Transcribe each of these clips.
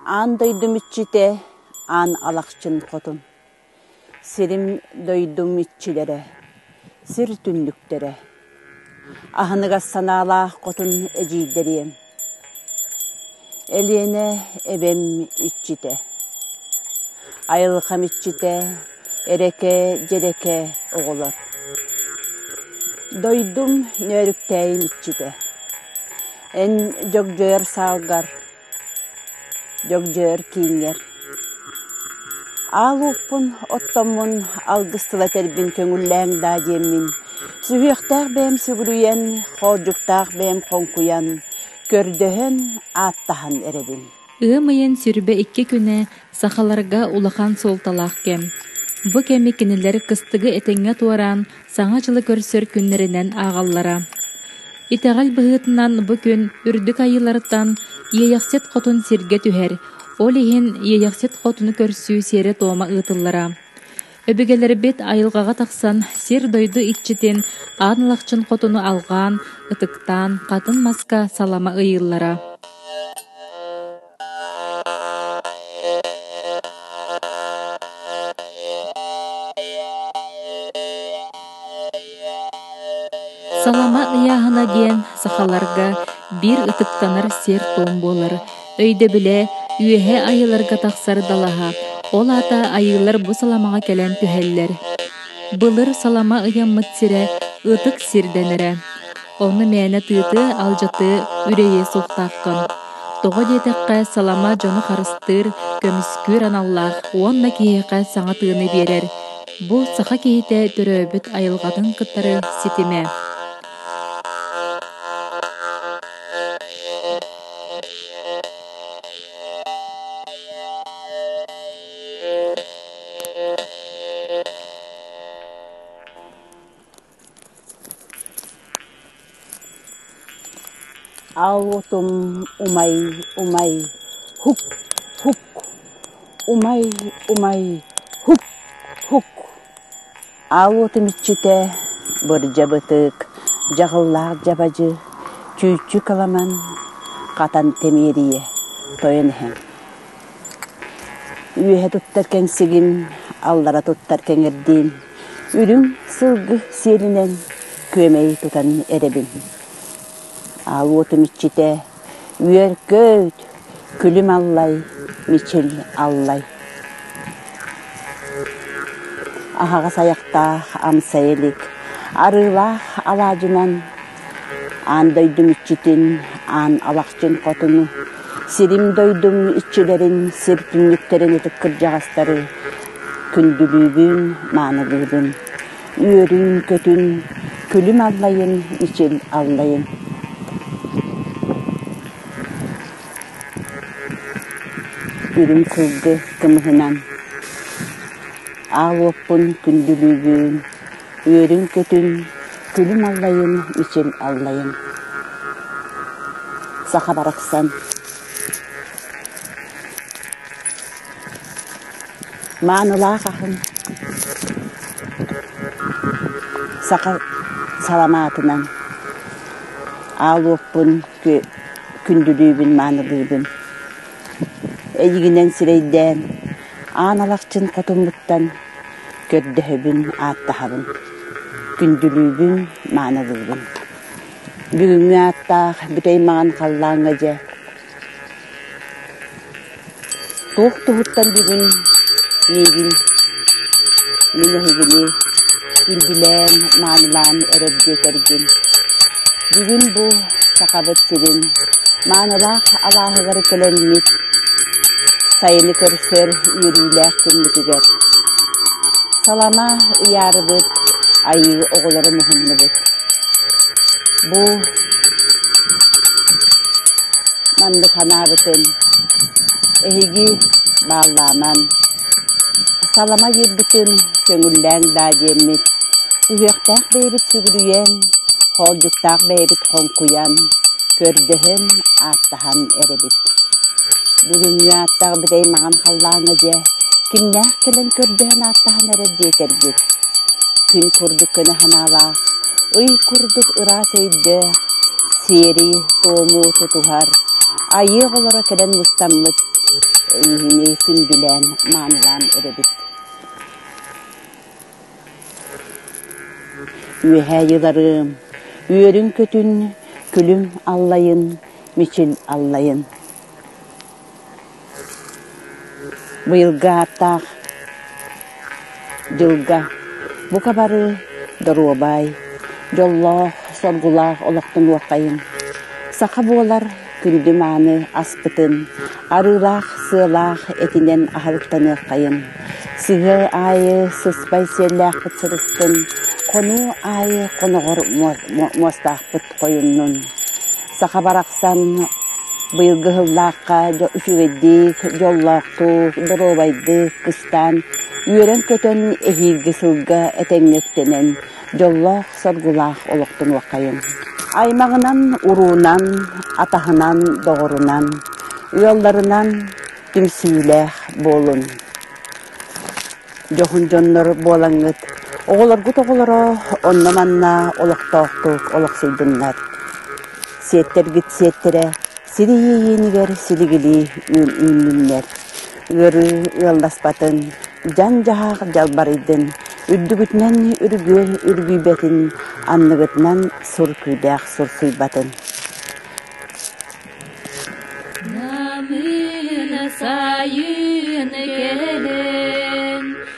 Аан дойдум иччитэ, аан Алахчын хотун Сирим-дойдум иччилэрэ, сир түннүктэрэ, аһыныгас санаалаах хотун эдьиийдэриэм, Элиэнэ эбэм иччитэ, Айылҕам иччитэ, эрэкэ, дьэрэкэ оҕолор, дойдум нөөрүктээйим иччитэ, эн дьогдьойор саалгар Дьөгдьөөр кииҥҥэр «Аал уоппун оттоммун алгыс тыла этэрбин көҥүллээҥ даа» диэммин, сүһүөхтээх бэйэм сүгүрүйэн, хоордьуктаах бэйэм хоҥкуйан, көрдөһөн, ааттаһан эрэбин. Ыам ыйын сүрбэ икки күнэ Сахаларга улахан суолталаах кэм. Бу кэми кинилэр кыстыгы этэҥҥэ туораан, Саҥа дьылы көрсөр күннэринэн ааҕаллара. Итэҕэл быһыытынан бу күн үрдүк айыылартан Иэйэхсит хотун сиргэ түһэр, ол иһин Иэйэхсит хотуну көрсүү сиэрэ-туома ыытыллара. Өбүгэлэрбит айылҕаҕа тахсан сир-дойду иччитин аан ылахчын хотуну алҕаан, ытыктаан, хатын маска салама ыйыыллара. Салама ыйааһына диэн сахаларга биир ытыктанар сиэр-туом буолар өйдөбүлэ үөһэ айыыларга тахсар далаһа ол аата айыылар бу саламаҕа кэлэн түһэллэр былыр салама ыйаммыт сирэ ытык сир дэнэрэ Онно мээнэ тыаты, алдьатыы, үрэйиэ суохтааххын. Тоҕо диэтэххэ, салама дьону харыстыыр, көмүскүүр аналлаах уонна киһиэхэ саҥа тыыны биэрэр. Бу саха киһитэ төрөөбүт айылҕатын кытары ситимэ. аотум умай умай һук һук умай умай һук һук аотум иччитэ бырдьабытык дьаҕыллаах дьабадьы чүүччү кыламан хатан тимиэрийэ тойон иһэн Үөһэ туттар кэҥсигим, аллара туттар кэҥирдиим, үрүҥ сылгы сиэлинэн күөмэйи тутан эрэбин. Аал уотум иччитэ үөр-көт, күлүм аллай, мичил аллай. Аһаҕас айахтаах амсай илик, арыылаах алаадьынан Аан дойдум иччитин, аан Алахчын хотуну, сирим-дойдум иччилэрин, сир түннүктэрин ытык кырдьаҕастары күндүлүүбүн, маанылыыбын. Үөрүүн-көтүүн, күлүм аллайын, ичил аллайын. Үрүҥ кылгы кымыһынан аал уоппун күндүлүүбүн, үөрүн-көтүн, күлүм аллайын үчүн аллайын. Саха барахсан маанылаах аһын саха саламаатынан аалуоппун күндүлүүбүн маанылыыбын эйигинэн сирэйдээн аан алахчын хотуммуттан көрдөһөбүн, ааттаһабын, күндүлүүбүн, маанылыыбын. Бүгүҥҥү ааттаах бүтэй маҥан халлааҥҥа дьэ туох туһуттан бүгүн миигин мин эһигини күндүлээн, маанылаан өрөр диэтэргин. Бүгүн бу Сахабыт сирин маанылаах алааһыгар кэлэммит сайыны көрсөр үөрүүлээх күммүтүгэр салама ыйаарыбыт, айыы оҕолору муһуннубут. Бу маннык ханаабытын эһиги бааллааман салама биэрбитин көҥүллээҥ даа диэммит сүһүөхтээх бэйэбит сүгүрүйэн, хоолдьуктаах бэйэбит хоҥкуйан, көрдөһөн ааттаабыт. аһан эрэбит. Бүгүҥҥү ааттаах битэй маҕан халлааҥҥа дьэ кимнээх кэлэн көрдөһөн ааттаһан эрэр диэтэргит. Күн курдук көнө санаалаах, ый курдук ыраас өйдөөх, сиэрий туому тутуһар, айыах олоро кэлэн мустаммыт ини күндүлээн маанылаан эрэбит. Үөһээ Йыларыам, үөрүн-көтүн, күлүм аллайын, мичил аллайын. Быйылгы ааттаах дьылга бука бары доруобай, дьоллоох, соргулаах олохтун уоххайын. Саха буолар күндү-мааны аспытын, арыылаах сыалаах этинэн аһарыктаныаххайын, сыһыы аайы сыспай сиэллээхпит сырыттын, хонуу аайы хоноҕор муостаахпыт хойуннун. Саха барахсан быйылгы сыллаахха үчүгэйдик, дьоллоохтук, доруобайдык кыстаан, үөрэн-көтөн эһиилги сылга этэҥҥэ үктэнэн, дьоллоох-соргулаах олохтонуоххайыҥ. Аймаҕынан, уруунан, атаһынан, доҕорунан, ыалларынан түмсүүлээх буолун. Дьоһун дьоннор буолаҥҥыт, оҕолоргут оҕолоро онно-манна олохтоохтук олохсуйдуннар. Сиэттэргит сиэттэрэ, сир иэйиинигэр силигилии үөл үүннүннэр, ыарыы ыалласпатын, дьаҥ-дьаһах дьалбарыйдын, үрдүгүтүнэн үргүөл үргүйбэтин, анныгытынан сур күүдээх сурсуйбатын. Намыына сайын кэлэн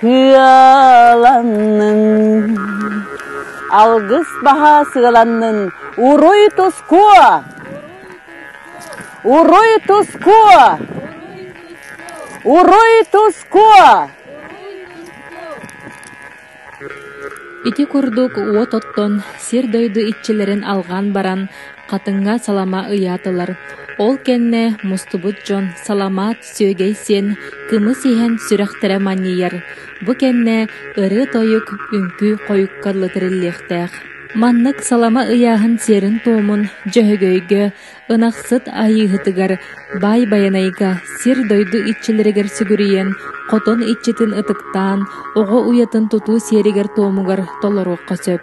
Сыаланнын, алгыс баһа сыаланнын, уруй туску! Уруй туску! Уруй туску! Ити курдук уот оттон сир-дойду иччилэрин алҕаан баран, Хатыҥҥа салама ыйаатылар. Ол кэннэ мустубут дьон саламаат Сүөгэй сиэн кымыс иһэн сүрэхтэрэ манньыйар, бу кэннэ ырыа-тойук, үҥкүү хойукка лытыриллиэхтээх. Маннык салама ыйааһын сиэрин-туомун Дьөһөгөйгө, Ынахсыт Айыыһытыгар, Баай Байанайга, сир-дойду иччилэригэр сүгүрүйэн, хотон иччитин ытыктаан, оҕо уйатын тутуу сиэригэр-туомугар толоруохха сөп.